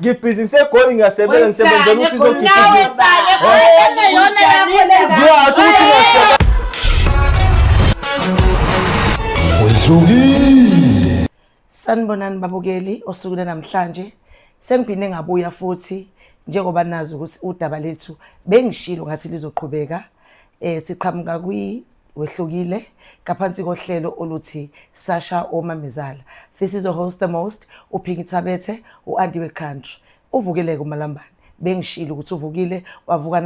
ngibhizinisi egoli ngiyasebenza ngisebenzela ukuthi izokhiqiza Wedlukile. Sanibonani babukeli osuku namhlanje sengiphinde ngabuya futhi njengoba nazi ukuthi udaba lethu bengishilo ngathi lizoqhubeka eh siqhamuka kwi wehlukile ngaphansi kohlelo oluthi Sasha Omamezala. This is your host the most uPhinki Thabethe uAnti we country. Uvukeleke umalambane bengishilo ukuthi uvukile wavuka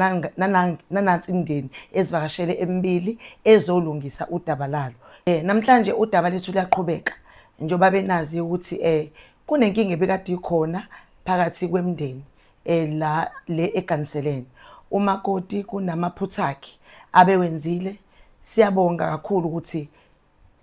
nanansi imndeni ezivakashele emibili ezolungisa udaba lalo. Eh namhlanje udaba lethu liyaqhubeka njengoba benazi ukuthi eh kunenkinga ebikade ikhona phakathi kwemndeni eh, la le eganiseleni umakoti kunamaphutha akhe abewenzile siyabonga kakhulu ukuthi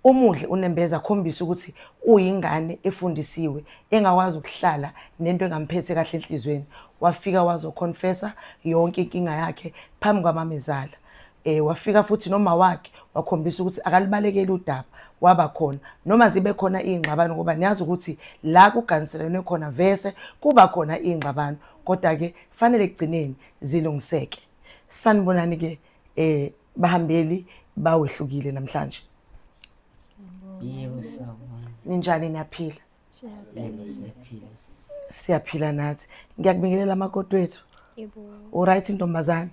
umuhle unembeza akhombisa ukuthi uyingane efundisiwe engakwazi ukuhlala nento engamphethe kahle enhlizweni wafika wazoconfessa yonke inkinga yakhe phambi kwamamezala Eh wafika futhi noma wakhe wakhombisa ukuthi akalibalekeli udaba waba khona noma zibe khona ingxabano ngoba niyazi ukuthi la kuganiselene khona vese kuba khona ingxabano kodwa ke fanele kugcineni zilungiseke sanibonani ke eh bahambeli bawehlukile namhlanje yebo sawubona ninjani niyaphila siyaphila nathi ngiyakubingelela amakoti wethu uright intombazane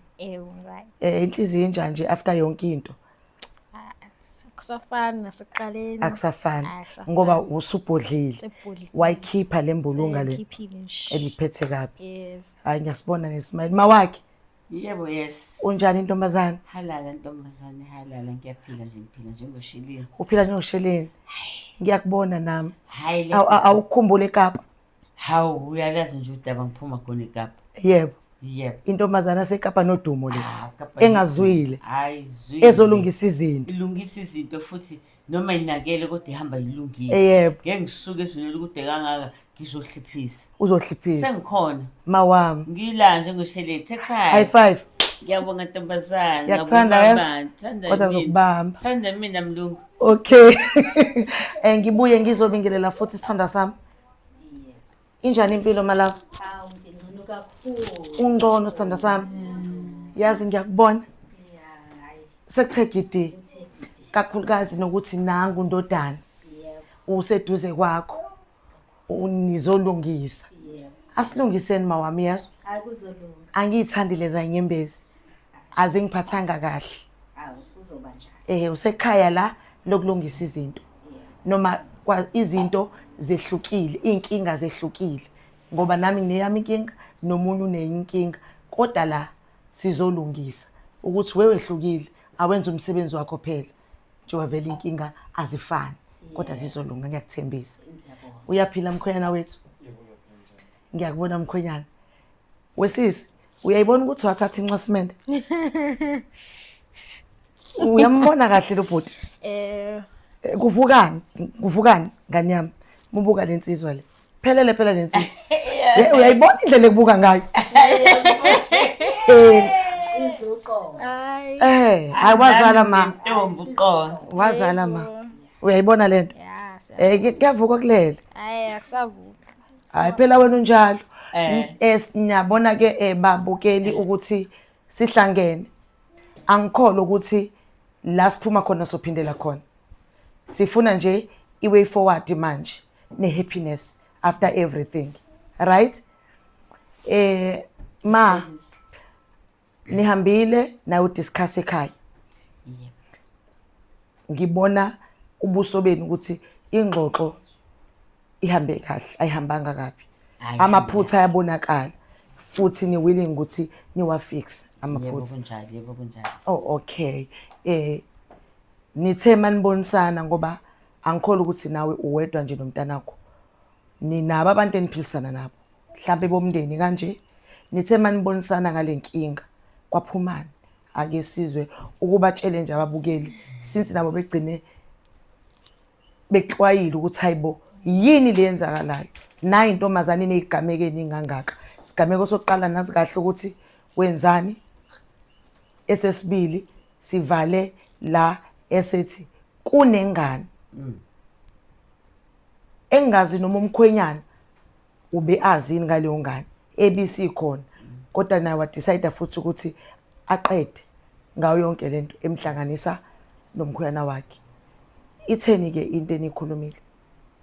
eh inhliziyo injani nje after yonke into akusafani nasekuqaleni akusafani ngoba usubhodlile wayikhipha lembulunga le ebiphethe kabi hayi ngiyasibona nesimali mawakhe Yebo yes. Unjani ntombazane? Halala ntombazane, halala ngiyaphila nje ngiphila njengosheleni. Uphila njengosheleni. Ngiyakubona nami. Hayi. Awukhumbule eKapa. Hawu uyalazi nje udaba ngiphuma khona eKapa. Yebo. Yebo. Intombazana seKapa nodumo le. Ah, engazwile. Ayizwile. Ezolungisa izinto. Ilungisa izinto futhi noma inakele kodwa ihamba ilungile Eh, yebo. ngeke ngisuke ezulele ukude kangaka ngizohliphisa uzohliphisa sengikhona mawami ngila njengosheleti ekhaya high five ngiyabonga ntombazane Ngiyakuthanda, ngiyabonga yes. baba, ngithanda Kodwa mina. ngizokubamba. Thanda mina mlungu okay um ngibuye ngizobingelela futhi isithandwa sami Injani impilo malava? Hawu ngingcono kakhulu. Ungcono sithanda sami. Mm. Yazi ngiyakubona. Yeah, hayi. Sekuthe gidi. Kakhulukazi nokuthi nangu ndodana. Yeah. Useduze kwakho. Unizolungisa. Yeah. Asilungiseni mawami yazo. Hayi kuzolunga. Angiyithandi leza inyembezi. Azingiphathanga kahle. Hawu kuzoba njani? Eh usekhaya la lokulungisa izinto. noma izinto zehlukile iy'nkinga zehlukile ngoba nami ngineyami inkinga nomunye unenye inkinga kodwa la sizolungisa ukuthi wewehlukile awenze umsebenzi wakho phela njengoba vele inkinga azifani kodwa zizolunga ngiyakuthembisa uyaphila mkhwenyana wethu ngiyakubona mkhwenyana wesisi uyayibona ukuthi wathatha inxwasimende uyambona kahle lo bhuti eh, eh kuvukani kuvukani ngani yami mubuka le nsizwa le phelele phela le nsizwa uyayibona indlela ekubuka ngayo eh eh hayi wazala ma ntombi uqola wazala ma uyayibona lento eh kuyavuka kulele hayi akusavuki hayi phela wena unjalo Eh. es niyabona ke eh, babukeli ukuthi sihlangene angikhole ukuthi la siphuma khona sophindela khona sifuna nje i-way forward manje ne-happiness after everything right eh ma nihambile nayo discuss ekhaya yebo ngibona ubuso benu ukuthi ingxoxo ihambe kahle ayihambanga kabi Ayi, amaphutha ayabonakala futhi ni willing ukuthi niwafixe yebo amaphutha kunjalo yebo kunjalo oh okay eh nithe manibonisana ngoba angikholi ukuthi nawe uwedwa nje nomntanakho ninabo abantu eniphilisana nabo mhlawumbe bomndeni kanje nithe manibonisana ngale nkinga kwaphumani ake sizwe ukubatshele nje ababukeli since nabo begcine bexwayile ukuthi hayibo yini le yenzakalayo nayi intombazane inezigameko eningangaka sigameko sokuqala nazi kahle ukuthi wenzani esesibili sivale la esethi kunengane mm. engazi noma umkhwenyana ube azini ngaleyo ngane ebisikhona kodwa naye wadecide futhi ukuthi aqede ngayo yonke lento emhlanganisa nomkhuyana wakhe itheni ke into enikhulumile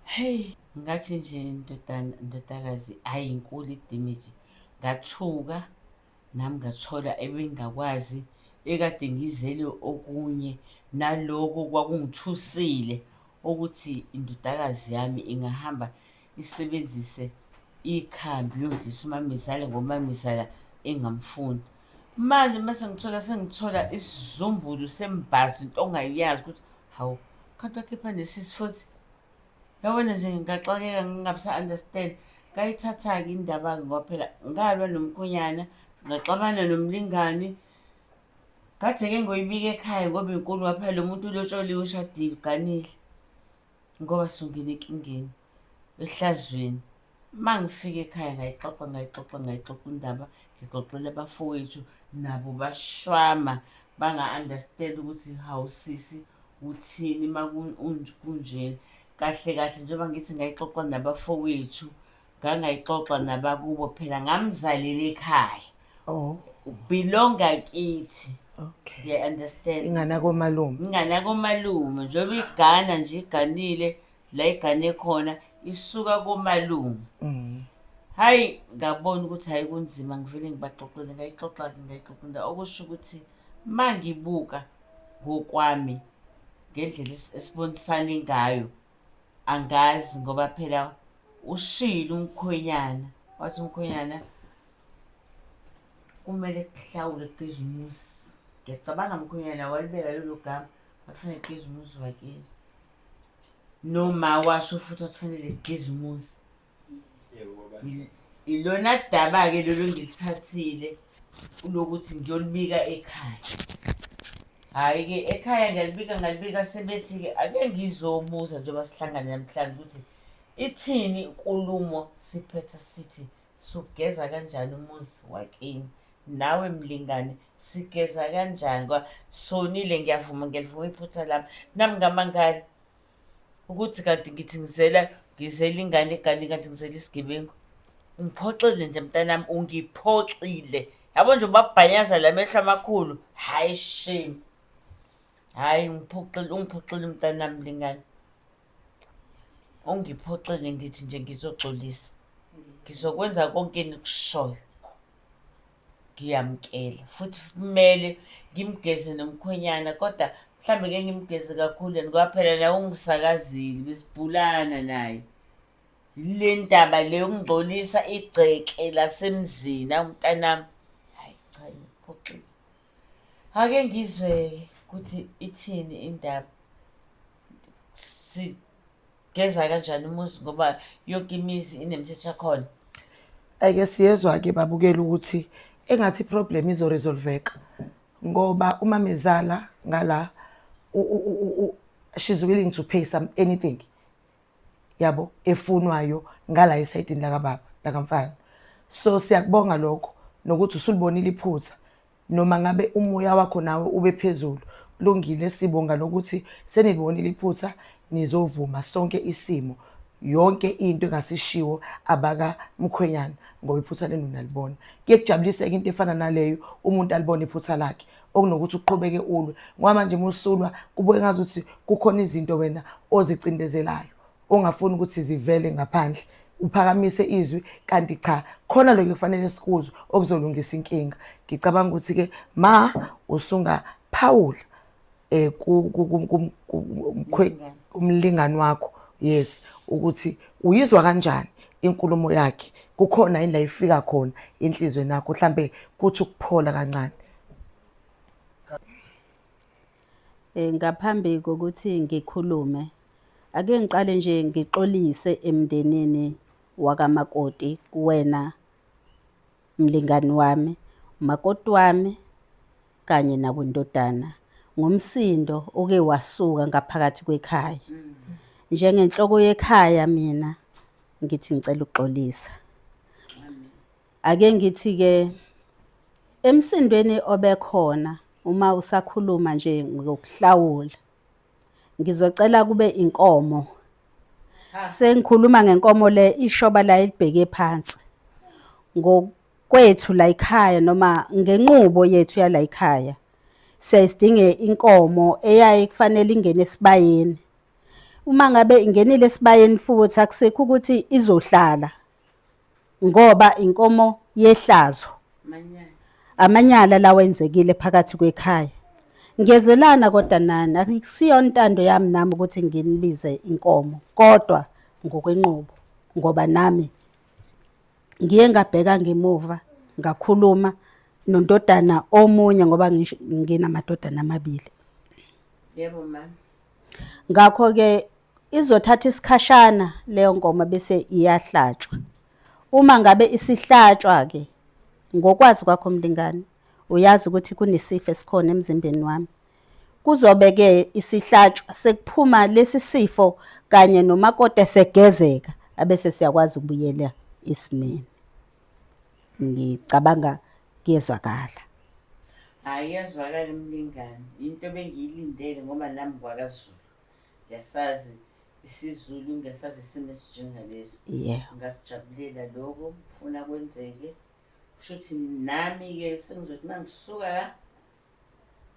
hey ngathi nje ndodana ndodakazi ayi inkulu idimage ngathuka Nami ngathola ebengingakwazi, ekade ngizele okunye naloko kwakungithusile ukuthi indodakazi yami ingahamba isebenzise ikhambi yodlisa umamezala ngoba umamezala engamfuni. Manje uma sengithola sengithola isizumbulu sembhazi into ongayazi ukuthi hawu, khanti wakhipha nesisi futhi. Yabona nje ngaxakeka ngingabisa understand kayithatha-ke indaba-ke ngoba phela ngalwa nomkhonyana ngaxabana nomlingani ngathi-ke ngoyibika ekhaya ngoba inkulu ngoba phela lo muntu ulotsholiwe ushadile uganile ngoba sungena enkingeni ehlazweni uma ngifika ekhaya ngayixoxa ngayixoxa ngayixoxa indaba ngixoxele abafowethu nabo bashwama banga-understand ukuthi hawu sisi uthini uma kunjena kahle kahle njengoba ngithi ngayixoxa nabafowethu ngangayixoxa nabakubo phela ngamzalele ekhaya oh. belonga kithi okay yeah understand ingana komalume ingana komalume njengoba igana nje iganile la igane khona isuka komalume mm. hayi ngabona ukuthi hayi kunzima ngivele ngibaxoxele ngayixoxa-ke ngayixoxela okusho ukuthi ma ngibuka ngokwami ngendlela esibonisane ngayo angazi ngoba phela ushile umkhwenyana wathi umkhwenyana kumele kuhlawule kuqiza umuzi ngiyacabanga mkhwenyana walibeka lelo gama wafanele kuqiza umuzi wakini noma washo futhi akufanele kugqize umuzi ilona daba-ke lolo ngilithathile kulokuthi ngiyolibika ekhaya hhayi-ke ekhaya ngiyalibika ngalibika sebethi-ke ake ngizomuza njengoba sihlangane namhlanje ukuthi ithini inkulumo siphetha sithi sugeza kanjani umuzi wakini nawe mlingane sigeza kanjani kwa sonile ngiyavuma ngiyalivuma iphutha lami nami ngamangala ukuthi kanti ngithi ngizela ngizela ingane egane kanti ngizela isigebengu ungiphoxile nje mntanami ungiphoxile yabo nje ubabhanyaza la mehlo amakhulu hayi shame hhayi ungiphoxile ungiphoxile mntanami lingane ungiphoxeke ndithi nje ngizoxolisa ngizokwenza konke enikushoyo ngiyamkela futhi kumele ngimgeze nomkhwenyana kodwa mhlawumbe ke ngimgeze kakhulu and kwaphela naye ungisakazile besibhulana naye le ndaba le ungigcolisa igceke lasemzini awumntanami hayi cha ngiphoxile Ake ngizwe ukuthi ithini indaba. Sigeza kanjani umuzi ngoba yonke imizi inemithetho yakhona. Ake siyezwa-ke babukela ukuthi engathi i-problem izoresolveka ngoba umamezala ngala u- u- u- u- she's willing to pay some anything yabo efunwayo ngala esayidini lakababa lakamfana so siyakubonga lokho nokuthi usulibonile iphutha noma ngabe umoya wakho nawe ube phezulu kulungile sibonga lokuthi senilibonile iphutha nizovuma sonke isimo yonke into engasishiwo abaka mkhwenyana ngoba iphutha lenu nalibona kuyekujabuliseka into efana naleyo umuntu alibona iphutha lakhe okunokuthi uqhubeke ulwe ngoba manje uma usulwa kubuke ngazi ukuthi kukhona izinto wena ozicindezelayo ongafuni ukuthi zivele ngaphandle uphakamise izwi kanti cha khona lokho kufanele sikuzwe okuzolungisa inkinga ngicabanga ukuthi ke ma usunga phawula eh kumlingani wakho yes ukuthi uyizwa kanjani inkulumo yakhe kukhona yini la ifika khona enhlizweni yakho mhlambe kuthi ukuphola kancane Eh, ngaphambi kokuthi ngikhulume ake ngiqale nje ngixolise emndenini wakamakoti kuwena mlingani wami umakoti wami kanye nakwindodana ngomsindo oke wasuka ngaphakathi kwekhaya njengenhloko yekhaya mina ngithi ngicela ukuxolisa Ake ngithi-ke emsindweni obekhona uma usakhuluma nje ngokuhlawula ngizocela kube inkomo sengikhuluma ngenkomo le ishoba la elibheke phansi ngokwethu la ekhaya noma ngenqubo yethu yala ekhaya siyayisidinge inkomo eyaye kufanele ingene esibayeni uma ngabe ingenile esibayeni futhi akusekho ukuthi izohlala ngoba inkomo yehlazo amanyala lawa enzekile phakathi kwekhaya ngiyezelana kodwa nani akusiyo intando yami nami ukuthi nginibize inkomo kodwa ngokwenqubo ngoba nami ngiye ngabheka ngemuva ngakhuluma nondodana omunye ngoba nginamadodana amabili yebo mama Ngakho-ke izothatha isikhashana leyo nkomo bese iyahlatshwa. Uma ngabe isihlatshwa-ke ngokwazi kwakho mlingani uyazi ukuthi kunesifo esikhona emzimbeni wami. Kuzobe-ke isihlatshwa sekuphuma lesi sifo kanye nomakoti esegezeka abese siyakwazi ukubuyela esimeni. ngicabanga kuyezwakala hayi yazwakala umlingani yinto bengiyilindele ngoba nami kwakazulu ngiyasazi isizulu ngiyasazi isimo esinjengaleso yeah ngakujabulela lokho funa kwenzeke kusho ukuthi nami-ke sengizothi uma ngisuka la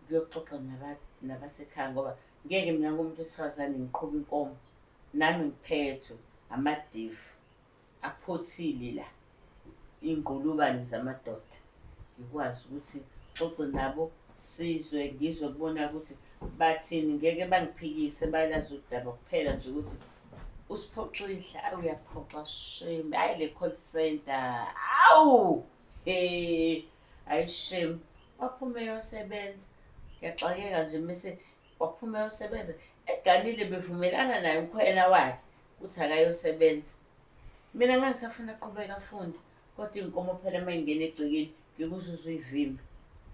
ngiyoxoxa nabasekhaya ngoba ngeke mina ngomuntu wesifazane ngiqhuba inkomo nami ngiphethwe amadifu aphothile la iy'ngqulubane zamadoda ngikwazi ukuthi xoxe nabo sizwe ngizwe kubona ukuthi bathini ngeke bangiphikise bayalazi udaba kuphela nje ukuthi usiphoxile ayi uyaphoxa shame ayi le call center awu he ayi shame waphume yosebenza ngiyaxakeka nje mese waphume yosebenza eganile bevumelana naye umkhwela wakhe uthi akayosebenza mina ngangisafuna aqhubeka afunde kodwa iy'nkomo phela uma ingena egcekeni ngikuzuze uyivimba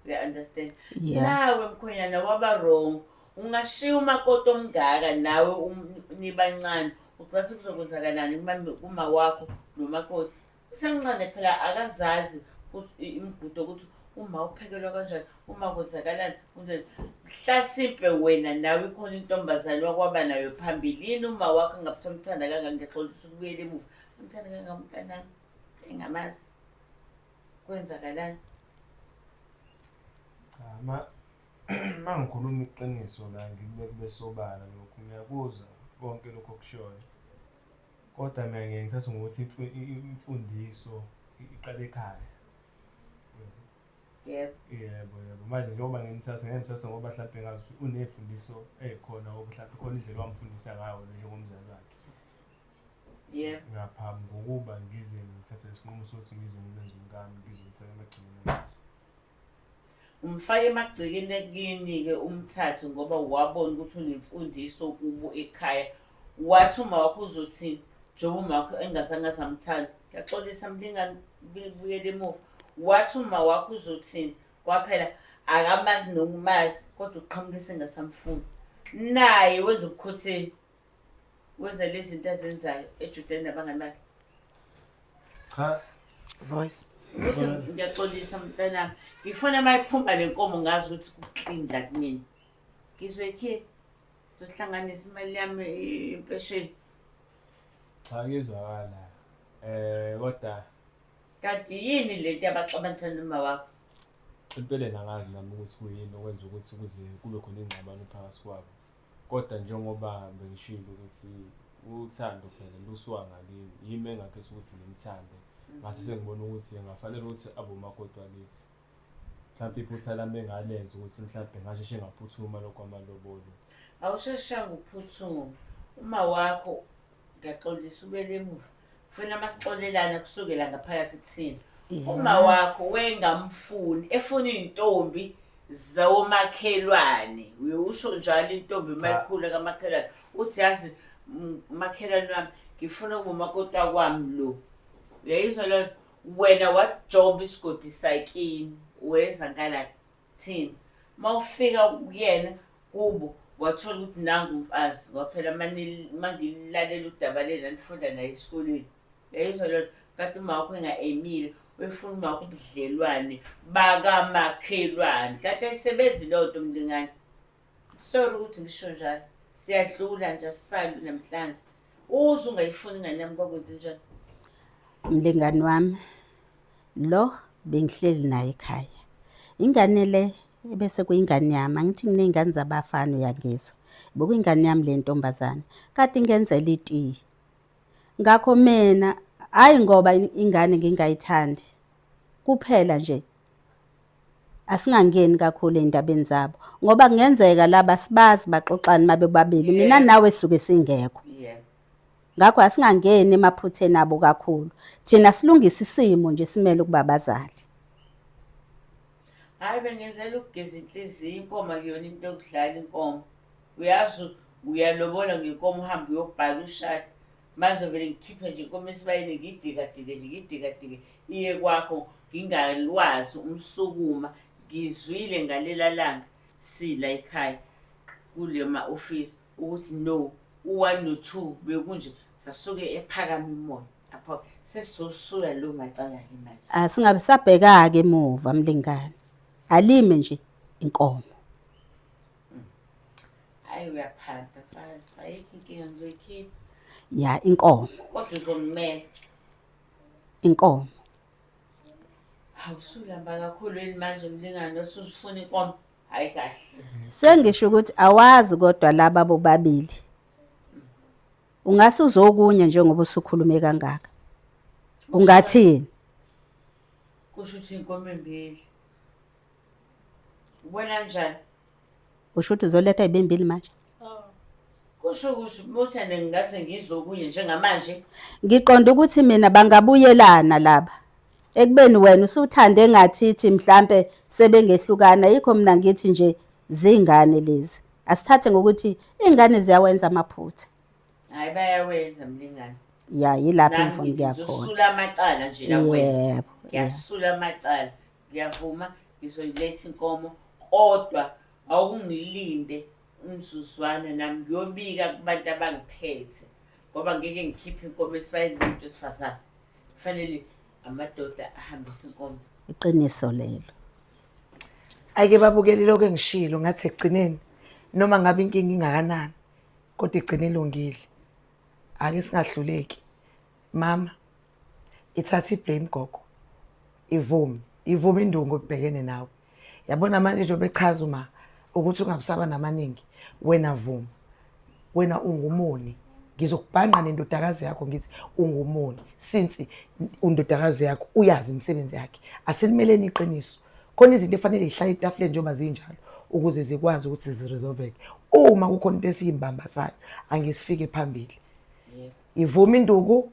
uya-understand Yeah. nawe mkhwenyana waba wrong ungashiya umakoti omngaka nawe um- nibancane ucase kuzokwenzakalani kuma- kuma wakho nomakoti usemncane phela akazazi ukuthi imigudo ukuthi uma uphekelwa kanjani uma kwenzakalani kunjani hlasimpe wena nawe ikhona intombazane wakwaba nayo phambilini uma wakho ngabuthi amthanda kangaka ngiyaxolisa ukubuyela emuva amthanda kangaka umntanami engamazi kwenzakalani cha ma ma ngikhuluma iqiniso la ngikube kubesobala lokhu ngiyakuzwa konke lokho kushoyo Kodwa mina ngiye ngithathe ngokuthi imfundiso iqala ekhaya. Yebo. Yebo yebo. Manje njengoba ngimthatha ngeke ngimthathe ngoba mhlawumpe ngazi ukuthi uney'fundiso ey'khona or mhlawumpe khona indlela owamfundisa ngayo wena njengomzali wakhe. Yebo. Ngaphambi kokuba ngize ngithathe isinqumo sokuthi ngize ngimenze umkami ngizomfaka emagcekeni angithi. Umfake emagcekeni akini-ke umthathe ngoba wabona ukuthi unemfundiso kubo ekhaya. Wathi umawakho uzothini njengoba umakho engazange aze amthanda. Ngiyaxolisa mlingani buyela emuva. Wathi umawakho uzothini kwaphela akamazi nokumazi kodwa uqhamuke sengasamfuni. Naye wenza ubukhotheni. Wenza lezi zinto azenzayo ejudeni nabangani bakhe. Cha. Voice. Uthi ngiyaxolisa mntanami. Ngifuna uma iphuma le nkomo ngazi ukuthi kuclean la kunini. Ngizoyikhipha. Ngizohlanganisa imali yami impesheni. Cha ngizwakala. Eh kodwa kanti yini le nto abaxabanisa noma wakho? Empeleni angazi nami ukuthi kuyini okwenza ukuthi kuze kube khona ingxabano phakathi kwabo. Kodwa njengoba bengishilo ukuthi uthando phela lusuka ngakimi yimi engakhetha ukuthi ngimthande ngathi mhm. sengibona ukuthi ngafanele ukuthi abomakoti wakithi mhlawumpe iphutha lami engalenza ukuthi mhlawumpe ngasheshe ngaphuthuma lokho amalobolo awusheshanga ukuphuthuma uma wakho ngiyaxolisa ubele emuva funa masixolelana kusukela ngaphakathi kuthina uma wakho wengamfuni efuna iy'ntombi zawomakhelwane uye usho njalo intombi uma Cha. ikhula kamakhelwane uthi yazi m- makhelwane wami ngifuna ukumakoti wakwami lo uyayizwa loo nto wena wajoba isigodi sakini wenza ngala Thina. Mawufika kuyena kubo wathola ukuthi nangu umfazi kwaphela mangilalela udaba lena nifunda naye esikoleni yayizwa lona kade umawakho enga-emile uyifuna umawakho ubudlelwane bakamakhelwane kade ayisebenzi leyo nto mlingane Sorry ukuthi ngisho njalo. Siyadlula nje asisalu namhlanje. Uze ungayifuni ingane yami kwakwenze njani? Mlingani wami lo bengihleli naye ekhaya. Ingane le ebese kuyingane yami angithi nginey'ngane zabafana uyangizwa. Bekuyingane yami le ntombazane kade ingenzela itiyi. Ngakho mina hhayi ngoba ingane ngingayithandi kuphela nje Asingangeni kakhulu eindabeni zabo ngoba kungenzeka laba sibazi baxoxani mabe babili mina nawe suke singekho. Ngakho asingangeni emaphutheni abo kakhulu. Thina silungisa isimo nje simele ukuba bazali. Hayi bengenzela ukugeza inhliziyo inkomo akuyona into yokudlala inkomo. Uyazi uyalobola ngenkomo uhambe uyobhala ushade. manje vele ngikhiphe nje inkomo esibayeni ngiyidikadike nje ngiyidikadike iye kwakho ngingalwazi umsukuma ngizwile ngalela langa sila ekhaya kule ma-ofisi ukuthi no u-one no-two bekunje sasuke ephakama imoya apho sesizosula lo macala-ke manje Ah, singabe sabheka-ke emuva mlingane alime nje inkomo Hayi uyaphatha mfazi, ayikho inkinga ngizoyikhipha. ya inkomo Kodwa uzongimela. inkomo Awusulamba kakhulu yini manje mlingane osusifuna inkomo? Hayi kahle. sengisho ukuthi awazi kodwa laba bobabili ungase uzokunye njengoba usukhulume kangaka ungathini Kusho ukuthi inkomo embili. Ubona njani? Usho ukuthi uzoletha ezimbili manje. Kusho ukuthi Muthane ngingase ngizokuye njengamanje. Ngiqonda ukuthi mina bangabuyelana laba. Ekubeni wena usuthande ngathithi mhlambe sebengehlukana yikho mina ngithi nje zingane lezi. Asithathe ngokuthi ingane ziyawenza amaphutha. Hayi bayawenza mlingane. Ya yilapho ngifuna ukuya khona. Ngisula amacala nje la kuwena. Yebo. Ngiyasula amacala. ngiyavuma ngizoyiletha inkomo kodwa awungilinde umzuzwana nami ngiyobika kubantu abangiphethe ngoba ngeke ngikhiphe inkomo esibayeni kumuntu wesifazane kufanele amadoda ahambise inkomo iqiniso lelo ayike babukeli lokho engishilo ngathi ekugcineni noma ngabe inkinga ingakanani kodwa igcine ilungile ake singahluleki Mama, ithatha iblame gogo. Ivumi, ivumi indungu ebhekene nawe. Yabona manje njengoba echaza uma ukuthi ungabusaba namaningi, wena vuma. Wena ungumoni. Ngizokubhanqa nendodakazi yakho ngithi ungumoni since undodakazi yakho uyazi imisebenzi yakhe. Asilimeleni iqiniso. Khona izinto efanele zihlale etafuleni njengoba zinjalo ukuze zikwazi ukuthi ziresolveke. Uma kukhona into esiyimbambathayo angisifike phambili. Ivuma induku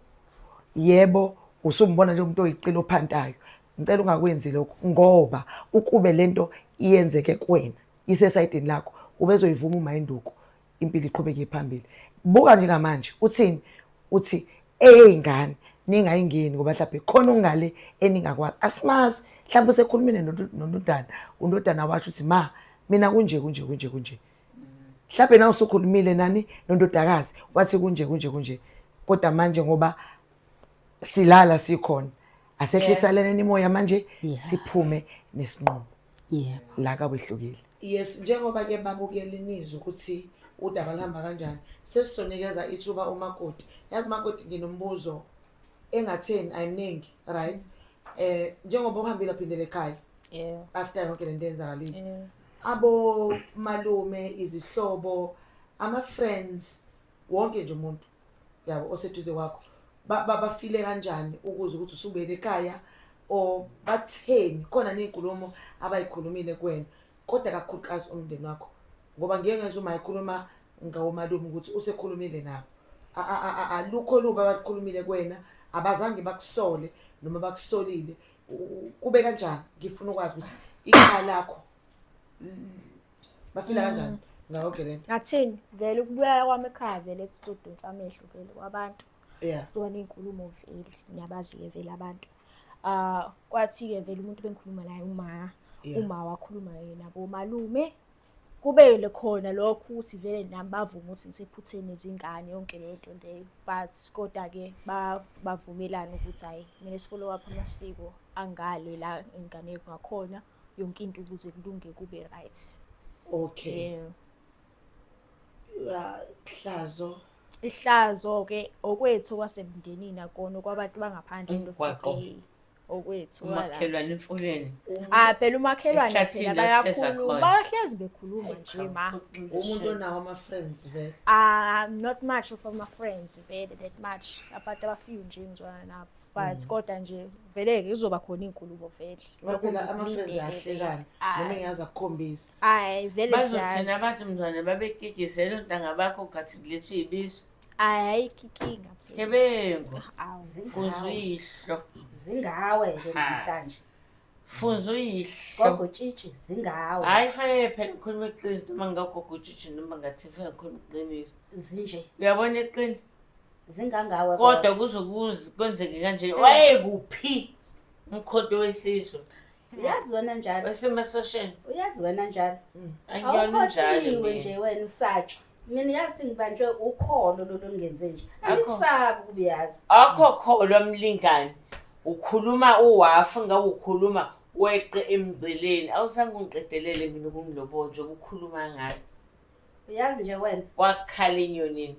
yebo usumbona nje umuntu oyiqilo ophantayo ngicela ungakwenzi lokho ngoba ukube lento iyenzeke kuwena isesayidini lakho ubezoyivuma uma induku impilo iqhubeke phambili buka nje ngamanje uthini uthi eyeyingane ningayingeni ngoba mhlawumbe khona ongale eningakwazi asimazi mhlawumbe usekhulumile nondodana undodana washo ukuthi ma mina kunje kunje kunje kunje mhlawumbe na usukhulumile nani nondodakazi wathi kunje kunje kunje kodwa manje ngoba silala sikhona asehlisaleleni imoya manje Yeah. siphume nesinqumo yebo la kawehlukile yes njengoba ke babukela inizwe ukuthi udaba luhamba kanjani sesizonikeza ithuba umakoti yazi makoti nginombuzo engatheni ayimningi right eh njengoba uhambile aphindele ekhaya Yeah. after yonke lento eyenzakalile Yeah. abomalume izihlobo ama-friends wonke nje umuntu yabo oseduze kwakho ba- ba- bafile kanjani ukuze ukuthi usubuyele ekhaya or batheni khona ney'nkulumo abayikhulumile kuwena kodwa kakhulukazi umndeni wakho ngoba ngeke ngezwa uma ekhuluma ngawomalume ukuthi usekhulumile nabo A- a- a- a- alukho lubi abalukhulumile kuwena abazange bakusole noma bakusolile kube kanjani ngifuna ukwazi ukuthi ikhaya lakho bafila kanjani ngayo ke lento ngathini vele ukubuyela kwami ekhaya vele kuzodonsa amehlo vele kwabantu yeah kuzoba ney'nkulumo vele ngiyabazi-ke vele abantu um kwathi-ke vele umuntu bengikhuluma naye uma uma wakhuluma yena bomalume Kube khona lokho ukuthi vele nami bavume ukuthi ngisephutheni izingane yonke leyo nto leyo but koda-ke bavumelana ukuthi hhayi kumele si-follow up amasiko angale la ingane kungakhona yonke into ukuze kulunge kube right okay yeah. hlazo ihlazo-ke okwethu kwasemndenini akona okwabantu bangaphandle into okwethu wala. umakhelwane emfuleni Ah phela umakhelwane Ehlathini phela la kutheza bayakhuluma khona. bahlezi bekhuluma nje ma. umuntu onawo ama-friends vele Ah not much of my friends vele that much abantu abafika nje ngizwana nabo. But kodwa nje vele ke kuzoba khona izinkulumo vele. ngoba phela ama-friends ayahlekana noma Ay engaze akukhombisa ay vele bazothina siyazi. abantu mzwane babekigizela ontanga bakho gathi kulethwa ibizo Hayi ayikho inkinga. Sgebengu. Awu Funza uyihlo. Zingawe nje Ha. namhlanje. Funza uyihlo. Gogo tshitshi zingawe. Hayi fanele phela ngikhuluma iqiniso noma ngagogo utshitshi noma ngathi fanele ngikhuluma iqiniso. Zinje Uyabona iqini? zingangawe. Kodwa kuzokuze kwenzeke kanje. Wayekuphi umkhonto wesizwe? uyazi wena njalo. Wasemasosheni. Uyazi wena njalo. Angiyona injalo. Awuphothiwe mina. nje wena usatshwa. mina yazi sengibanjwe ukholo lolu ngenze nje angisabi ukuyazi akho kholo mlingani ukhuluma uwafu ngabe ukhuluma weqe emgceleni awusange ungiqedelele mina ukungilobo nje ukukhuluma ngayo uyazi nje wena wakhala inyonini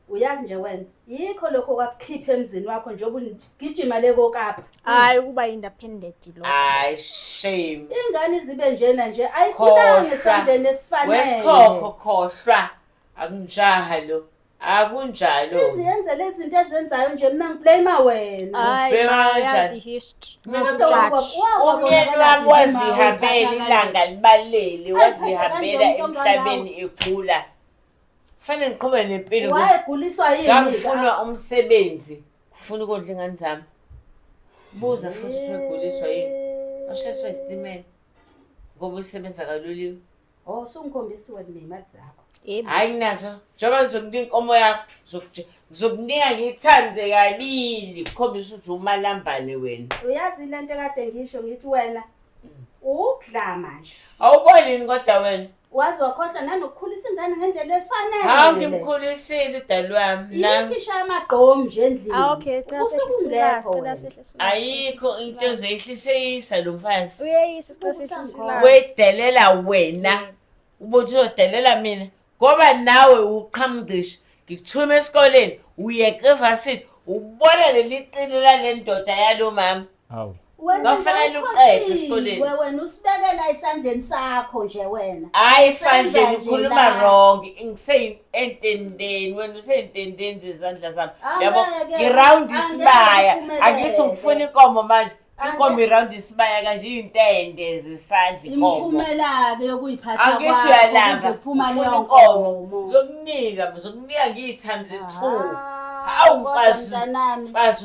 uyazi nje wena yikho lokho kwakukhipha emzini wakho njengoba gijima le kokapa hayi ukuba independent lo hayi shame ingane zibe njena nje ayikhulanga esandleni esifanele wesikhokho khohlwa akunjaha lo akunjalo iziyenze lezi zinto ezenzayo nje mina ngiblame wena hayi history umyeni wami wazihambela ilanga libalele wazihambela emhlabeni ekhula Fanele ngiqhube nempilo. Wayeguliswa yini? Ngangifuna umsebenzi. Ngifuna ukondla ingane zami. Buza futhi uguliswa yini? Washeswa isitimela. Ngoba usebenza kaloliwe. Oh, sungikhombisa wena nemali zakho. Hayi nazo. Njengoba ngizokunika inkomo yakho, ngizokunika ngithande kabili. Khombisa ukuthi umalambane wena. Uyazi lento kade ngisho ngithi wena mm. ukudla manje. Awuboni kodwa wena? Waze wakhohlwa nanokukhulisa ingane ngendlela efanele. Hawu ngimkhulisile udali wami. Nangu Yikisha amagqomu nje endlini. Ah okay, cela Usuku sehlise ungekho ulaka, cela wena. sehlise ulaka. ayikho into ezoyihliseyisa lo mfazi. Uyeyisa cela sehlise Ubusangobo. ulaka. Wedelela wena. Ubuthi uzodelela mina ngoba nawe uqhamngqisho. Ngikuthuma esikoleni uyeqa evasini ubona leli qini lale ndoda yalo mama. Hawu. Wena Kwafanele awukho uqede siwe, esikoleni. Wena usibekela esandleni sakho nje wena. Hayi Senza sandleni nje ukhuluma la. wrong. Ngiseyintendeni wena useyintendeni zezandla zami. Angeke, Yabo ngiround angeke isibaya. uphumelele. Angithi ngifuna inkomo manje. Angeke. Inkomo iround isibaya kanje intende zesandla inkomo. Imiphumela-ke yokuyiphatha Angithi kwakho uyalamba. ukuze kuphuma Ufuna leyo inkomo. nkomo. Ngizokunika, ngizokunika ngiyi times two. Ah, Hawu, kodwa mfazi. mntanami. Mfazi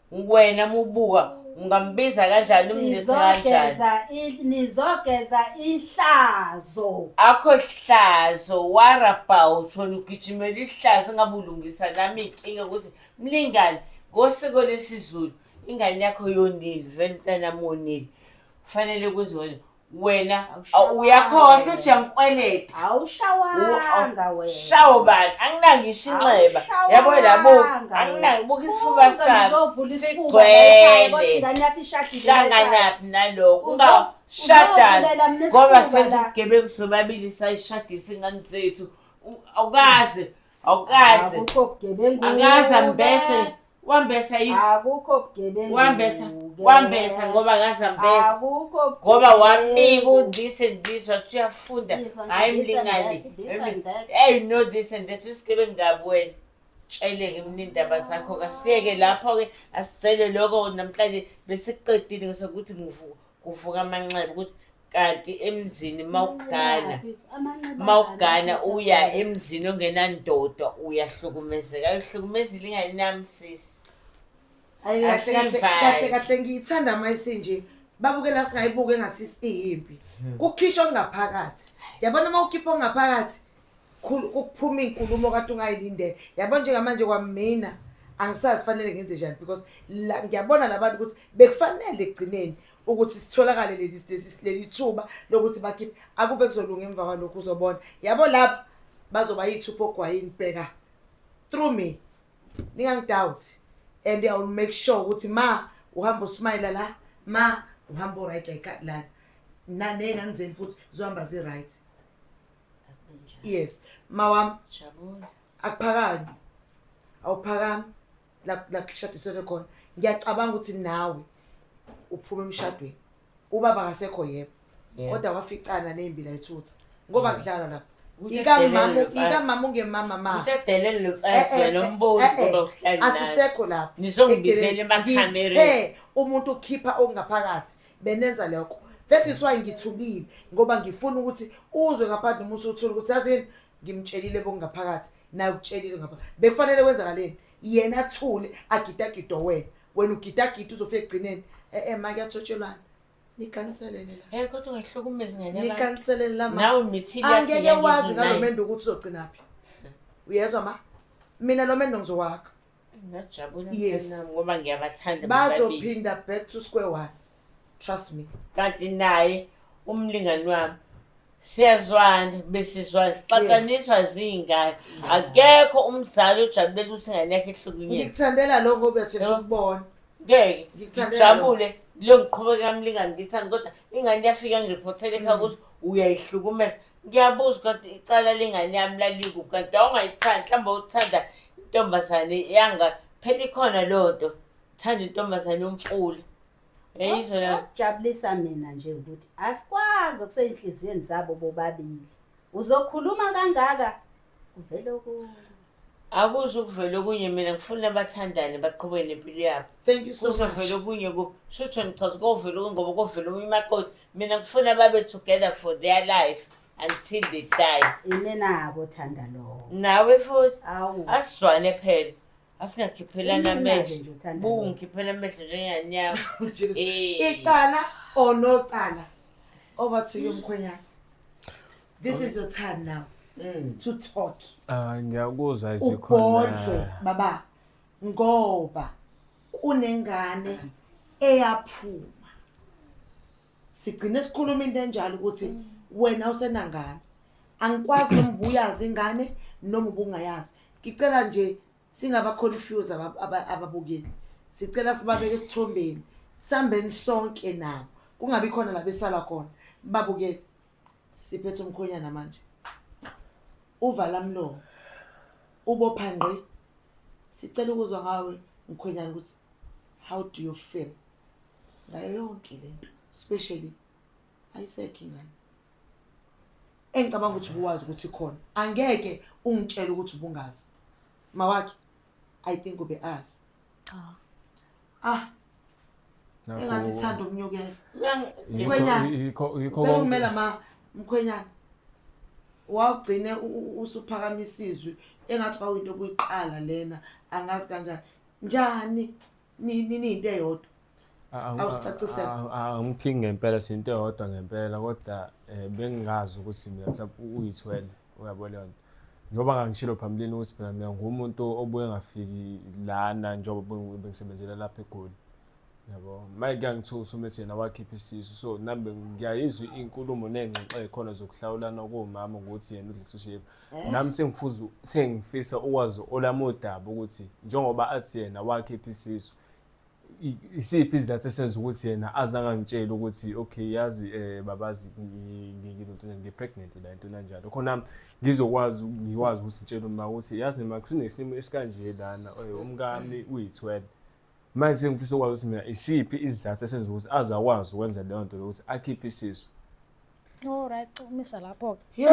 wena mubuka ungambiza kanjani umnisi kanjani Sizogeza i- nizogeza ihlazo akho hlazo what about wena ugijimela ihlazo ngabe ulungisa nami inkinga ukuthi mlingane ngosiko lesizulu ingane yakho yonile vele mntanami wonile kufanele kwenziwe wena Awushawanga. uyakhohlwa siyangikweleta awushawanga wena shawo bani anginangisho inxeba Awushawanga yabo labo wena. anginaki buka isifuba Uze sami ngizovula isifuba la ekhaya, kodwa sigcwele ingane yakho ishadile la ekhaya. hlanganaphi naloko Uzo- ungashadani uzovulela mina ngoba isifuba la. sezigebengu sobabili sayishadisa ingane zethu U- awukaze awukaze Akukho bugebengu. akaze ambese wambesa yini akukho bugebengu wambesa wambesa ngoba ngazambesa akukho ngoba wamika u this and this wathi uyafunda hayi mlingani hey you know this and that usigebe ngabu wena tsheleke mnindaba zakho kasiyeke lapho ke asicele lokho namhlanje besiqedile ngisokuthi ngivuka kuvuka amanxeba ukuthi kanti emzini mawugana mawugana uya emzini ongenandoda uyahlukumezeka ayihlukumezile ingane nami sisi Ayi kahle kahle kahle kahle ngiyithanda mayise nje babukela singayibuke ngathi siyimpi hmm. kukhishwa ngaphakathi yabona uma ukhipha ongaphakathi kuphuma inkulumo kade ungayilindele yabo njengamanje kwamina angisazi fanele ngenze njani because ngiyabona labantu ukuthi bekufanele ekugcineni ukuthi sitholakale leli state leli thuba lokuthi bakhiphe akuve kuzolunga emva kwalokhu uzobona yabo lapha bazoba yithupha ogwayini bheka through me ningangidoubt and i will make sure ukuthi ma uhamba usmayela la ma uhamba uright like lana nanengangizeni futhi zohamba zi-right yes ma wami akuphakami awuphakami la la kushadiselwe khona ngiyacabanga ukuthi nawe uphuma emshadweni ubaba akasekho yebo Yeah. kodwa waficana nembi la ethutha ngoba kudlalwa lapha Uthe ikamama delele mfazi. ikamama ungemama ma Uthe delele lo Eh, eh, mfazi wena eh, umboni eh, eh. ngoba uhlala naye. asisekho lapho Nizongibizela emakhamereni. Ngithe umuntu ukhipha okungaphakathi benenza lokho that is why ngithukile ngoba ngifuna ukuthi uzwe ngaphandle uma usuthola ukuthi yazini ngimtshelile bokungaphakathi naye ukutshelile ngapha bekufanele kwenzakaleni yena athule agidagido wena wena ugidagida uzofika ekugcineni e-e ma kuyathotshelwana nikanselene la Eh kodwa ungayihlukumezi ngane yakho. nikanselene la ma Nawe mithile angeke yakhe wazi ngalo yangizwinayo. mendo ukuthi uzogcinaphi uyezwa ma mina lo mendo ngizowakha yes ngoba ngiyabathanda bazophinda back to square one trust me kanti naye umlingani wami siyazwana besizwana sixatshaniswa ziyingane akekho umzali ojabulela ukuthi ingane yakhe ehlukunyezwe ngikuthandela lo ngoba sesho ukubona ngeke ngijabule leyo ngiqhubeka kamlingani ngithanda kodwa ingane yafika ngiriphothele ekhaya ukuthi uyayihlukumeza Ngiyabuza ukuthi icala lengane yami lalikuphi kanti wawungayithandi mhlawumbe uthanda intombazane yanga phela ikhona leyo nto thanda intombazane yomfula yayizwa la okujabulisa mina nje ukuthi asikwazi okuseyinhliziyweni zabo bobabili uzokhuluma kangaka kuvele okunye akuzukuvela okunye mina ngifuna abathandane baqhubeke nempilo yabo thank you so much kuzovela okunye ku shutho ngichaza kovela okunye ngoba kovela omunye imakoti mina ngifuna babe together for their life until they die imenako thanda lowo nawe futhi awu asizwane phela asingakhiphelani amehlo nje uthanda lowo. bungikhiphela amehlo njenganyama Jesus. Eh. icala or no cala over to you mkhwenyana this is your time now mm. to talk ah ngiyakuzwa izikhona ubhodle baba ngoba kunengane eyaphuma sigcine sikhuluma into enjalo ukuthi mm. wena usenangane angikwazi noma ubuyazi ingane noma ubungayazi ngicela nje singaba confuse ababukeli sicela sibabeke esithombeni sambeni sonke nabo kungabi khona la besala khona babukele Siphethe umkhonyana manje. Uvala mlomo. Ubopha ngqi. Sicela ukuzwa ngawe mkhwenyana ukuthi how do you feel ngayo yonke lento especially ayisekho ingane engicabanga ukuthi uwazi ukuthi khona angeke ungitshele ukuthi ubungazi mawakhe i think ube azi cha ah engathi ithanda ukunyukela mkhwenyana cela umela ma mkhwenyana wawugcine usuphakama isizwi engathi kwawinto okuyiqala lena angazi kanjani njani niniyinto eyodwa awusicaciselaangiphingi ngempela sinto eyodwa ngempela kodwa um bengingazi ukuthi mina mhlawumbe uyithwele uyabo leyo nto njengoba ngangishilo phambilini ukuthi phela mina ngumuntu obuye ngafiki lana njengoba bengisebenzela lapha egoli yabo maye kuyangithuka usumethi yena wakhipha isisu so nami ngiyayizwa inkulumo ney'ngxoxo ey'khona zokuhlawulana komama ukuthi yena udlisa ushevu eh? nami sengifuza sengifisa ukwazi olami udaba ukuthi njengoba athi yena wakhipha isisu isiphi isizathu esenza ukuthi yena azange angitshele ukuthi okay yazi eh babazi nginento ngipregnant la into kanjalo khona ngizokwazi ngikwazi ukuthi ngitshele uma ukuthi yazi ma kunesimo esikanje lana eh, umkami uyi-12 manje sengifisa ukwazi ukuthi mina isiphi isizathu esenza ukuthi azakwazi ukwenza leyo nto lokuthi akhiphe isisu Alright, umisa lapho-ke.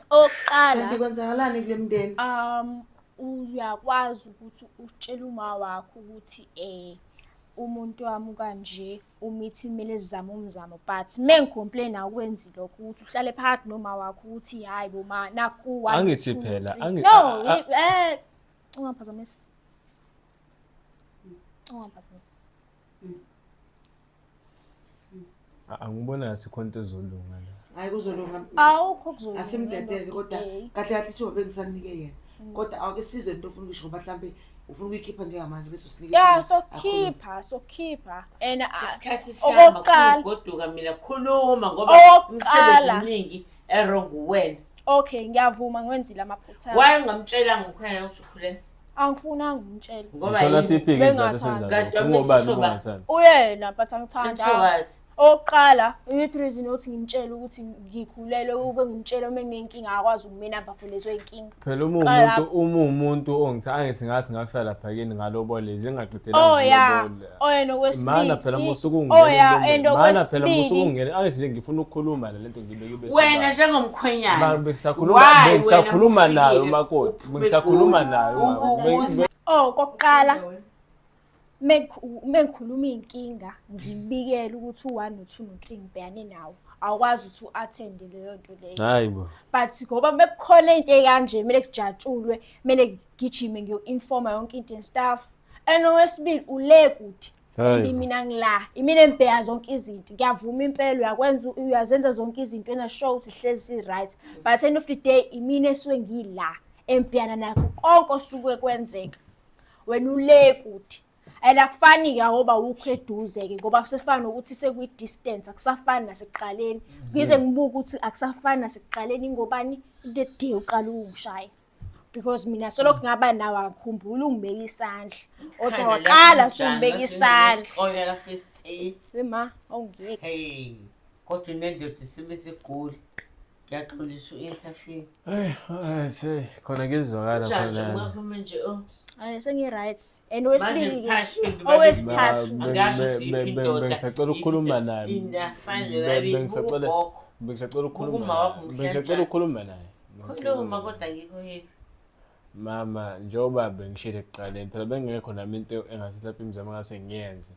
okokuqala kanti kwenzakalani kule mndeni um uyakwazi ukuthi utshele uma wakho ukuthi eh umuntu wami kanje umithi kumele zizame umzamo but mengicomplain akwenzi lokho ukuthi uhlale phakathi noma wakho ukuthi hayi bo ma naku one, Angithi two, phela, three. angi- no a- a- eh ungaphazamisi ungaphazamisi A- angibona asikho into ezolunga la hayi kuzolunga awukho kuzolunga asimdedele ndoda, kodwa eh. kahle kahle ithuba bengisanike yena Mm. kodwa awuke sizwe into ofuna ukuyisho ngoba mhlawumbe ufuna ukuyikhipha njengamanje bese usinike ya ithuba. sokhipha sokhipha and ah, isikhathi sihamba funa okokuqala ukugoduka mina khuluma ngoba Okokuqala. umsebenzi omningi erong uwena okay ngiyavuma ngwenzile amaphutha why ungamtshelanga ukhona ukuthi ukhulelwe angifunanga umtshela Ngoba Ngisona yini? siphi ke isizathu Bengathandi. senza Kanti lokho? Ungobani wamesisoba- ukungathandi? uyena but angithanda Mthokazi. okokuqala iyiphi reason yokuthi ngimtshele ukuthi ngikhulelwe ube ngimtshele uma nginenkinga akwazi ukumina ngabhulezwe inkinga Phela uma Qala uwumuntu uma uwumuntu ongithi angithi ngathi ngafika lapha kini ngalobolezi ngingaqedelanga Oh, yeah. ngilobole. oyena okwesibili phela musa ukungena phela musa ukungena angithi nje ngifuna ukukhuluma le nto ngibeke bese wena njengomkhwenyana bengisakhuluma bengisakhuluma nayo makoti bengisakhuluma nayo oh kokuqala mengikhuluma inkinga ngibikele ukuthi u1 no2 no3 ngibhekane nawo awukwazi ukuthi u-athende leyo nto leyo hayi bo but ngoba bekukhona into ekanje kumele kujatshulwe kumele ngigijime ngiyo-informa yonke into and stuff and owesibili ule kuthi and mina ngila imina embheya zonke izinto ngiyavuma impela uyakwenza uyazenza zonke izinto ena show ukuthi hlezi right but end of the day imina esuke ngila embheyana nakho konke osuke kwenzeka wena ule kuthi and akufani ke ngoba ukho eduze ke ngoba kusefana ukuthi sekwi distance akusafani nasekuqaleni ngize ngibuke ukuthi akusafani nasekuqaleni ngobani into edie uqala ukushaye because mina solokhu mm. ngaba nawo akhumbula ungibeka isandla kodwa waqala sungibeka isandla oyela first aid wema awungeke hey kodwa unendoda isibe sigula ngiyaxolisa u-interfere eh alright hey khona ngizwakala khona ungaphuma nje oh ay sengi-right and wesibili owesithathu angazi ukuthi indoda ngisacela ukukhuluma naye bengisacela ukukhuluma naye bengisacela ukukhuluma naye Khuluma kodwa ngikho here. Mama njengoba bengishile ekuqaleni phela bengekho nami into engase lapha imizamo engase ngiyenze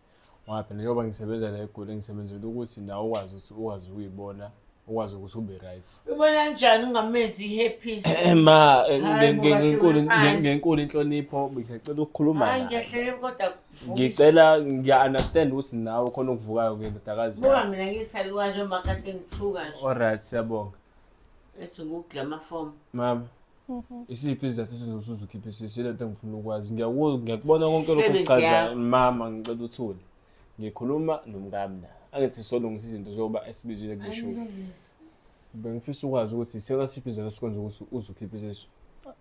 ngoba phela njengoba ngisebenza la eGoli engisebenzela ukuthi nawe ukwazi ukuthi ukwazi ukuyibona ukwazi ukuthi ube right. Ubona njani ungamezi i-happy? Eh, ma eh, ngenkulu ngenkulu inhlonipho ngicela ukukhuluma naye. Ngiyahlele kodwa ngicela ngiya understand ukuthi nawe khona ukuvukayo ke ndodakazi. Buka mina ngisalukazi omakade ngithuka nje. Alright siyabonga. ethi ngukugcama form mama mhm. isiphi izizathu esizosuza ukhiphe sisi ile nto engifuna ukwazi ngiyakubona konke lokhu kuchazayo mama ngicela uthule ngikhuluma nomkami la angithi solungisa izinto zoba esibizile kuleshuwa bengifisa ukwazi ukuthi isela siphi izizathu esikwenza ukuthi uze ukhiphe isisu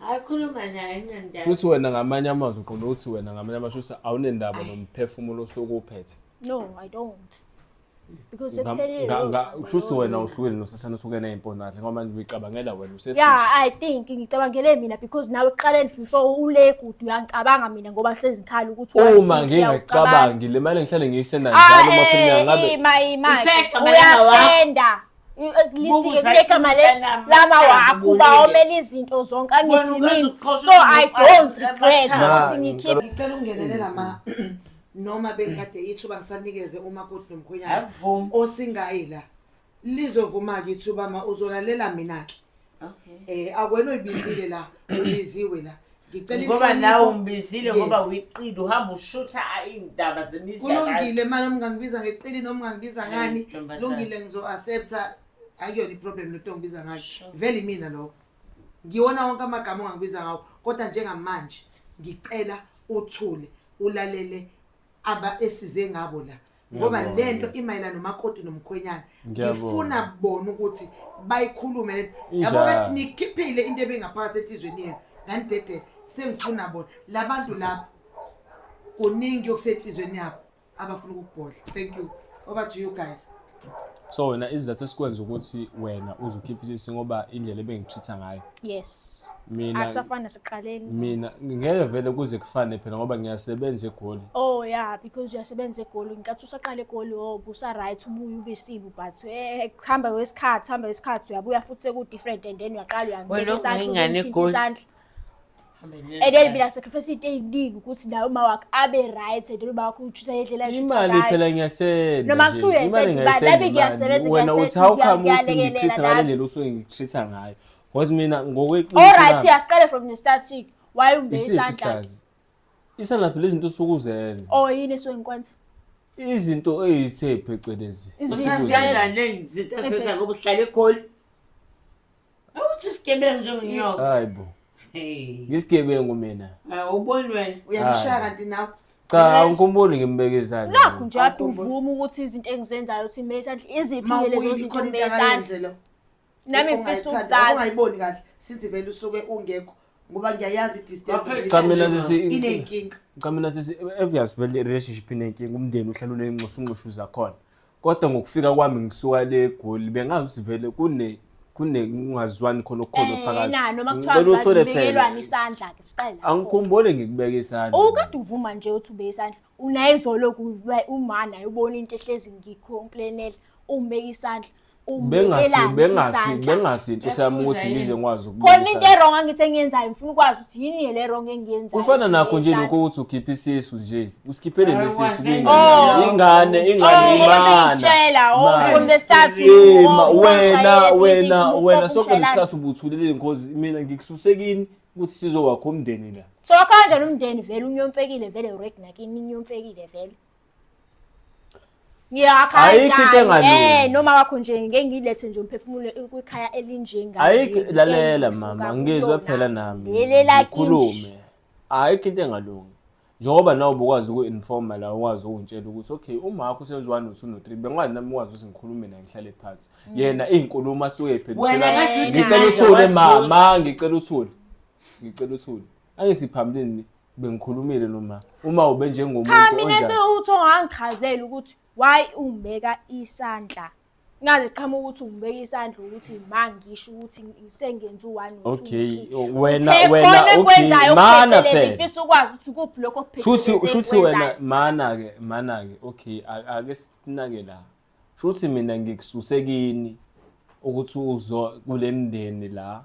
akhuluma naye ngendaba shuthi wena ngamanye amazwi uqonda ukuthi wena ngamanye amazwi shuthi awunendaba nomphefumulo osukuwuphethe no i don't because shuthi wena uhlukile nosesana osuke neyimponadle ngoba manje uyicabangela wena use yeah i think ngicabangele mina because nawe uqaleni before ule kude uyangicabanga mina ngoba hlezi ngikhala ukuthi uma ngingacabangi le mali ngihlale ngiyisendayo njalo uma phela ngabe uyasenda listike kule gama lama wakho uba omele izinto zonke angithimini so i don't regret ukuthi ngikhiphe ngicela ungenele lama noma bengikade ithuba ngisanikeze umakoti nomkhwenyana osingayi la lizovuma-ke ithuba ma uzolalela mina-ke Okay. Eh akwena uyibizile la, ubiziwe la. Ngicela Ngoba inhlonipho. nawe umbizile ngoba Yes. wiqili uhamba ushutha a- iy'ndaba zemizi yakanye. Kulungile manje umngangibiza ngeqili noma ungangibiza Hayi, ngani? ntombazane. Kulungile ngizo accepta akuyona iproblem lento ngibiza ngayo. Sure. Vele imina lokho. Ngiwona wonke amagama ongangibiza ngawo kodwa njengamanje ngicela uthule ulalele aba esize ngabo la. ngoba Ngiyabonga, lento yes. imayelana nomakoti nomkhwenyana Ngiyabonga. ngifuna bona ukuthi bayikhulume lento Injalo. yabo ke nikhiphile into ebingaphakathi enhlizweni yenu nganidedele sengifuna bona labantu laba kuningi okusenhlizweni yabo abafuna ukukubhodla thank you over to you guys so wena isizathu esikwenza ukuthi wena uzokhipha isisi ngoba indlela ebengitreat-a ngayo yes mina akusafani nasekuqaleni mina ngeke vele kuze kufane phela ngoba ngiyasebenza egoli oh yeah because uyasebenza egoli nkathi usaqala egoli oh busa right ubuye ube sibu but eh kuhamba kwesikhathi hamba kwesikhathi uyabuya futhi seku different and then uyaqala uyangena isandla ingane egoli and then mina sacrifice into eyiningi ukuthi naye uma wakhe abe right and uma wakhe utshusa yedlela imali phela ngiyasenda noma kuthiwa uyasenda imali nami ngiyasebenza wena uthi how come uthi ngitreat ngale ndlela usuke ngitreat ngayo because mina ngokweqiniso all right siyasiqale from the start chick why umbe isandla isandla phela izinto usuke uzenza oh yini esuke ngikwenza izinto ezithe phecelezi izinto kanjani lezinto ezenza ngoba uhlale egoli Awuthi isigebengu njengonyoka. Hayi bo. Hey. Ngisigebengu mina. Hawu uboni wena. Uyamshaya kanti nawe. Cha uNkulunkulu ngimbeke izandla. Nakho nje ade uvuma ukuthi izinto engizenzayo uthi mate andle iziphi ke lezo zinto mezandla. Nami ngifisa ukuzazi. Ungayiboni kahle since vele usuke ungekho ngoba ngiyayazi Cha mina sisi inenkinga. cha mina sisi obvious vele relationship inenkinga umndeni uhlala unenxusa unxushu zakhona kodwa ngokufika kwami ngisuka le egoli bengazi ukuthi vele kune kunekungazwani khona okukhona Eh, phakathi na, noma ngicela kuthiwa uthole phela ngibekelwani isandla-ke siqale lapho. angikhumbule ngikubeka isandla ukade uvuma nje uthi ubeke isandla unayizolo kuba uma naye ubona into ehlezi ngikhomplenela umbeka isandla bengasi bengasi bengasi inhloso yami ukuthi ngize ngikwazi ukubona khona into erong angithi engiyenzayo ngifuna ukwazi ukuthi yini le wrong engiyenzayo kufana nakho nje lokho ukuthi ukhiphe isisu nje usikhiphe le sisu kuyingane ingane ingane imana ngitshela oh from the start wena wena wena sonke lesikhathi ubuthulile ngozi mina ngikususekini ukuthi sizowakha umndeni la so kanjani umndeni vele unyomfekile vele ured nakini inyomfekile vele ngiyakha Ayikho into kanjani engalungi. eh noma wakho nje ngeke ngilethe nje umphefumulo kwikhaya elinjenga ayikho lalela mama ngizwe phela nami lelela kimi ngikhulume ayikho into engalungi njengoba nawe ubukwazi uku-informa la ukwazi ukungitshela ukuthi okay umakho usenziwa no-two no-three bengikwazi nami ukwazi ukuthi ngikhulume naye ngihlale phansi mm. yena iy'nkulumo asuke ey'phendusengicela uthule mama ngicela uthule ngicela uthule angisiphambilini bengikhulumile noma uma ube njengomuntu cha mina sewuthi ongangichazela ukuthi why umbeka isandla Ngaze qhamuka ukuthi ungibeke isandla ukuthi ma ngisho ukuthi sengenza u-one or two. Okay, wena Uthe wena khona okay, ekwenzayo mana okuphethelezi, phela. ngifisa ukwazi ukuthi kuphi lokho Shuthi okuphethelezi shuthi wena engikwenzayo. mana ke mana ke okay a- ake sinake la. Shuthi mina ngikususekini ukuthi uzo kulemndeni la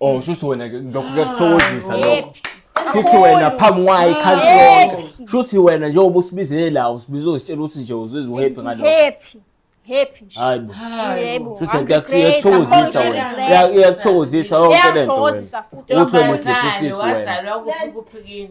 Oh shuthi wena ke lokho kuyakuthokozisa lokho. Shuthi wena phambi kwayo ikhanti yonke. Happy. Shuthi wena njengoba usibizele la usibiza uzitshela ukuthi nje uzizwa uhappy ngalokho. Happy. Happy nje. Hayi bo. Yebo. Shuthi I'm lento great, yakuthokozisa I'm wena. great. Iya- Iyakuthokozisa yonke lento wena. Iyangithokozisa futhi. Ukuthi wena Ntombazane, udliphusisi wena. wazalwa kuphi kuphikini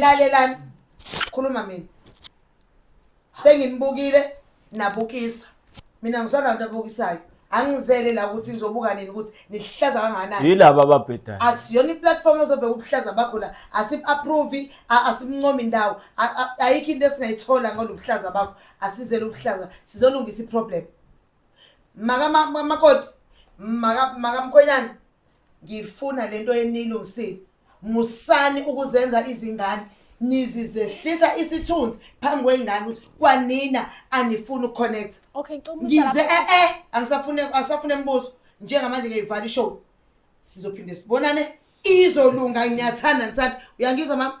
lalelani khuluma mina senginibukile nabukisa mina ngisona nto abukisayo angizele la ukuthi ngizobuka nini ukuthi nihlaza kanganani yilaba ababhedayo akusiyona iplatform ozobe ubuhlaza bakho la asim-approve asimncomi indawo ayikho into esingayithola ngalo buhlaza bakho asizele ubuhlaza sizolungisa iproblem makamakoti makamkhwenyana ngifuna lento enilungisile musani ukuzenza izingane nizizehlisa isithunzi phambi kwey'ngane ukuthi kwanina anifuni ukuconnect okay, ngize e-e angisafune angisafune mbuzo njengamanje ngiyivala ishow sizophinde sibonane izolunga ngiyathanda ngisathi uyangizwa mama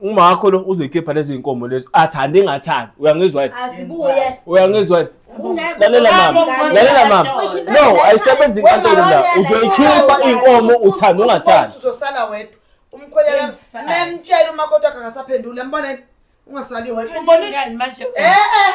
umakho lo uzoyikhipha lezi zinkomo lezi athande engathandi uyangizwa yini azibuye uyangizwa yini lalela mama lalela mama no ayisebenzi inkantolo la uzoyikhipha iy'nkomo uthanda ungathandi uzosala wedwa umkhwenyana memtshela umakoti wakhe angasaphenduli yambona yini ungasali wedwa umbonile manje eh eh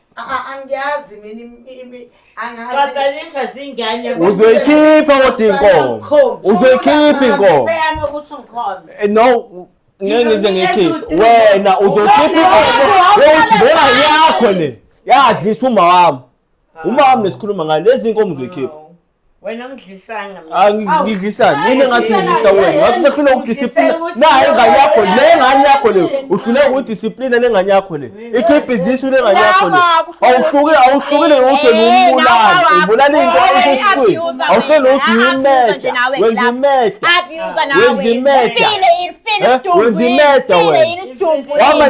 angiyazi mina angiqhathaniswa zingane uzoyikhipha kodwa inkomo uzoyikhipha inkomo beyame ukuthi ngikhona eh, no ngeke ngize ngikhiphe wena uzokhipha inkomo wokuthi lona yakho le yadlisa uma wami uma wami nesikhuluma ngayo lezi nkomo uzoyikhipha wena ungidlisanga angidlisani ah, mina ngasingidlisa wena wathi sefuna ukudisiplina nayo ingane yakho le ngane yakho le uhlule ukudisiplina le ngane yakho le ikhiphe izisu le ngane yakho le awuhlukile awuhlukile ukuthi umbulali umbulala into ayisesikwini awuhlele ukuthi uyimeja wenza imeja wenza imeja wenza imeja wena wama